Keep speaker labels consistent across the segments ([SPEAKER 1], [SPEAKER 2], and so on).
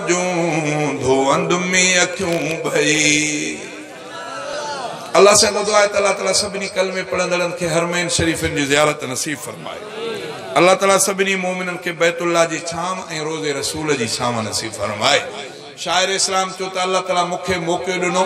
[SPEAKER 1] جون ڌوئند مين اکيون ڀئي. الله سان گڏ دعا آهي ته الله تعالي سڀني ڪلمي پڙهندڙن کي حرمين شريفين جي زيارت نصيب فرمائي. الله تعالي سڀني مؤمنن کي بيت الله جي ڇانو ۽ روضي رسول جي ڇانو نصيب فرمائي. شاعر اسلام چيو ته الله تعالي مون کي موقعو ڏنو.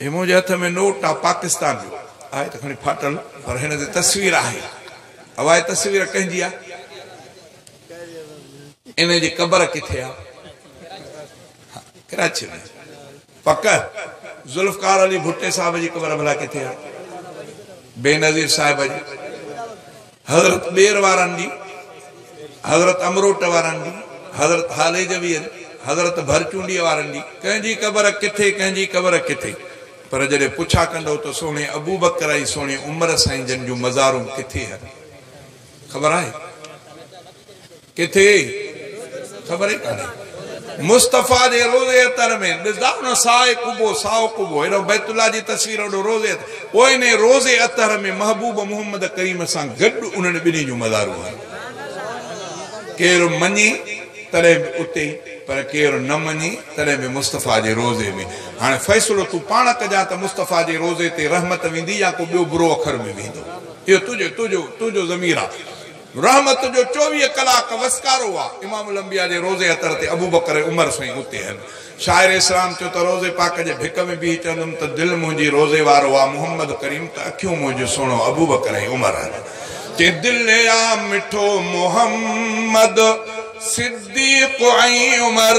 [SPEAKER 1] هي منهنجي هٿ ۾ نوٽ آ پاڪستان جو. آهي ته کڻي ڦاٽل پر هن تي تصوير آهي. اها هي تصوير ڪنهن جي آ؟ انهن جي قبر ڪٿي آ؟ ڪراچيء ۾. پڪ؟ ذوالفقار علي ڀٽي صاحب جي قبر ڀلا ڪٿي آ؟ بينظير صاحب جي. حضرت ٻير وارن جي، حضرت امروٽ وارن جي، حضرت هاليجويين، حضرت ڀرچونڊيء وارن جي، ڪنهن جي قبر ڪٿي، ڪنهن جي قبر ڪٿي؟ پر جڏهن پڇا ڪندو ته سهڻي ابوبڪر ۽ سهڻي عمر سائين جن جون مزارون ڪٿي هن کي خبر آهي؟ ڪٿي خبر ئي ڪانهي. مصطفيٰ جي روضي عطر ۾ ڏسدا نه سائي قبو سائو قبو هيڏانهن بيت الله جي تصوير هوڏو روضي عطر پوء انهي روضي عطر ۾ محبوب محمد ڪريم سان گڏ انهن ٻنهي جون مزارون آهن ڪير مڃي تڏهن به اتي پر ڪير نه مڃي تڏهن به مصطفيٰ جي روضي ۾ هاڻي فيصلو تون پاڻ ڪجان ته مصطفيٰ جي روضي تي رحمت ويندي يا ڪو ٻيو برو اکر به ويندو اهو تنهنجو تنهنجو تنهنجو ضمير آ. رحمت جو چوويهه ڪلاڪ وسڪارو آ. امام الانبياء جي روضي اطهر تي ابوبڪر ۽ عمر سائين اتي هن. شاعر اسلام چيو ته روضي پاڪ جي ڀڪ ۾ بيهي چوندم ته دل منهنجي روضي وارو آ محمد ڪريم ته اکيون منهنجون سهڻو ابوبڪر ۽ عمر هن. چئين دل آ مٺو محمد صديق ۽ عمر.